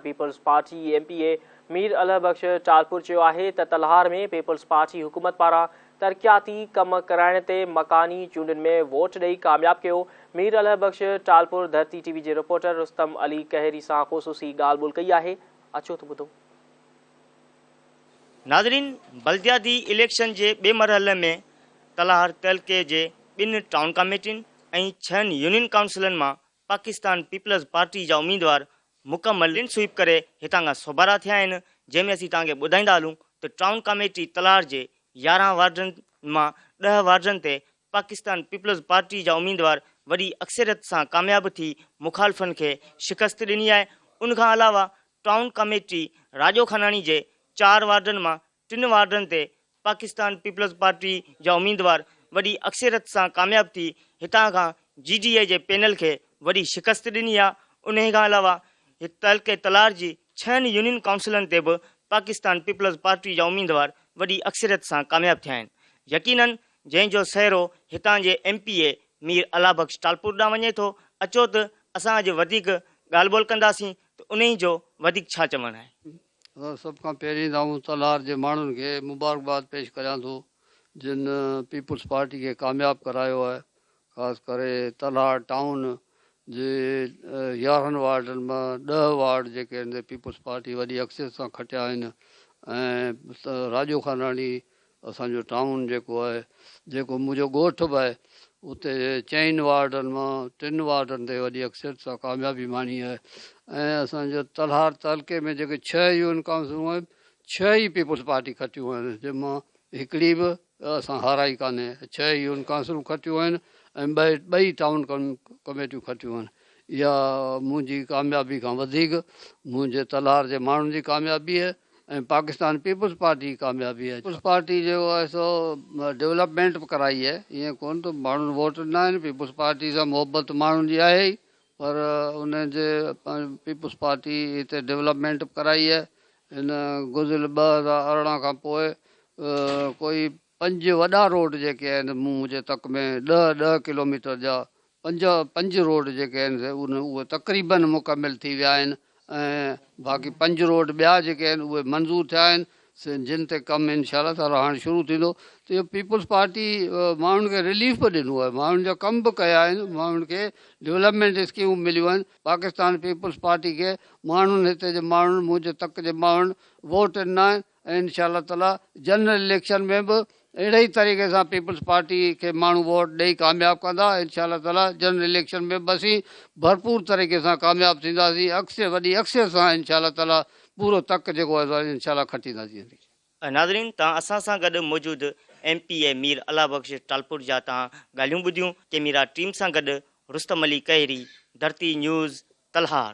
Peoples Party M P A Mir Allah Bakhsh Talpur چيو آهي ته تلهار ۾ پيپلز پارٽي حڪومت پاران ترقياتي ڪم ڪرائڻ تي مڪاني چونڊن ۾ ووٽ ڏئي ڪامياب ڪيو مير الهه بخش ٽالپر ڌرتي ٽي وي جي رپورٽر رستم علي ڪهيري سان خصوصي ڳالهه ٻولهه ڪئي آهي اچو ته ٻڌو. ناظرين بلدياتي اليڪشن جي ٻئي مرحلي ۾ تلهار تعلقي جي ٻن ٽائون ڪاميٽين ۽ ڇهن يونين ڪائونسلن مان پاڪستان پيپلز پارٽي جا اميدوار مڪمل ڪلين سوئيپ ڪري هتان کان سوڀارا ٿيا آهن جنهن ۾ اسين توهان کي ٻڌائيندا هلون ته ٽائون ڪاميٽي تلار جي يارهن وارڊن مان ڏهه وارڊن تي پاڪستان پيپلز پارٽي جا اميدوار وڏي اڪثريت سان ڪامياب ٿي مخالفن کي شڪست ڏني آهي ان کان علاوه ٽائون ڪاميٽي راڄو خاناڻي جي چار وارڊن مان ٽن وارڊن تي پاڪستان پيپلز پارٽي جا اميدوار وڏي اڪثريت سان ڪامياب ٿي هتان کان جي ڊي اي جي پينل کي وڏي شڪست ڏني آهي انهي کان علاوه تعلقي تلار جي ڇهن يونين ڪائونسلن تي به پاڪستان پيپلز پارٽي جا اميدوار وڏي اڪثريت سان ڪامياب ٿيا آهن يقينن جنهن جو سهرو هتان جي M P A Mir Allah Bakhsh Talpur ڏانهن وڃي ٿو اچو ته اسان اڄ وڌيڪ ڳالهه ٻولهه ڪنداسين ته انهي جو وڌيڪ ڇا چوڻ آهي. سڀ کان پهرين ته آئون تلهار جي ماڻهن کي مبارڪباد پيش ڪريان ٿو جن پيپلز پارٽي کي ڪامياب ڪرايو آهي خاص ڪري تلهار ٽائون جي يارهن وارڊن مان ڏهه وارڊ جيڪي ان پيپلز پارٽي وڏي اڪثريت سان کٽيا آهن ۽ راڄو خاناڻي اسان جو ٽائون جيڪو آهي، جيڪو منهنجو ڳوٺ به آهي، اتي چئن وارڊن مان ٽن وارڊن تي وڏي اڪثريت سان ڪاميابي ماڻي آهي ۽ اسان جي تلهار تعلقي ۾ جيڪي ڇهه يونين ڪائونسلون آهن، ڇهه ئي پيپلز پارٽي کٽيون آهن، جن مان هڪڙي به اسان هارائي ڪانهي، ڇهه يونين ڪائونسلون کٽيون آهن ۽ ٻه ٻئي ٽائون ڪميٽيون کٽيون آهن، اها منهنجي ڪاميابي کان وڌيڪ منهنجي تلهار جي ماڻهن جي ڪاميابي آهي. ۽ پاڪستان پيپلز پارٽي جي ڪاميابي آهي، پيپلز پارٽي جيڪو آهي سو ڊولپمينٽ به ڪرائي آهي، ائين ڪونه ته ماڻهن ووٽ ڏنا آهن، پيپلز پارٽي سان محبت ماڻهن جي آهي ئي پر ان جي پيپلز پارٽي هتي ڊولپمينٽ به ڪرائي آهي، هن گذريل ٻه هزار ارڙهن کان پوء ڪوئي پنج وڏا روڊ جيڪي آهن مون منهنجي تڪ ۾ ڏهه ڏهه ڪلوميٽر جا پنج پنج روڊ جيڪي آهن سي ان اهي تقريباً مڪمل ٿي ويا آهن ۽ باقي پنج روڊ ٻيا جيڪي آهن اهي منظور ٿيا آهن سي جن تي ڪم انشاء الله تعاليٰ هاڻ شروع ٿيندو ته اهو پيپلز پارٽي ماڻهن کي رليف به ڏنو آهي ماڻهن جا ڪم به ڪيا آهن ماڻهن کي ڊولپمينٽ اسڪيمون مليون آهن پاڪستان پيپلز پارٽي کي ماڻهن هتي جي ماڻهن منهنجي تڪ جي ماڻهن ووٽ ڏنا آهن ۽ انشاء الله تعاليٰ جنرل اليڪشن ۾ به اهڙي ئي طريقي سان پيپلز پارٽي کي ماڻهو ووٽ ڏئي ڪامياب ڪندا انشاء الله تعاليٰ جنرل اليڪشن ۾ به اسين ڀرپور طريقي سان ڪامياب ٿينداسين اڪثر وڏي اڪثريت سان انشاء الله تعاليٰ پورو تڪ جيڪو آهي سو انشاء الله کٽينداسين. ناظرين تهان اسان سان گڏ موجود M P A Mir Allah Bakhsh Talpur جا تهان ڳالهيون ٻڌيون ڪيميرا ٽيم سان گڏ رستم علي کهري، ڌرتي نيوز، تلهار.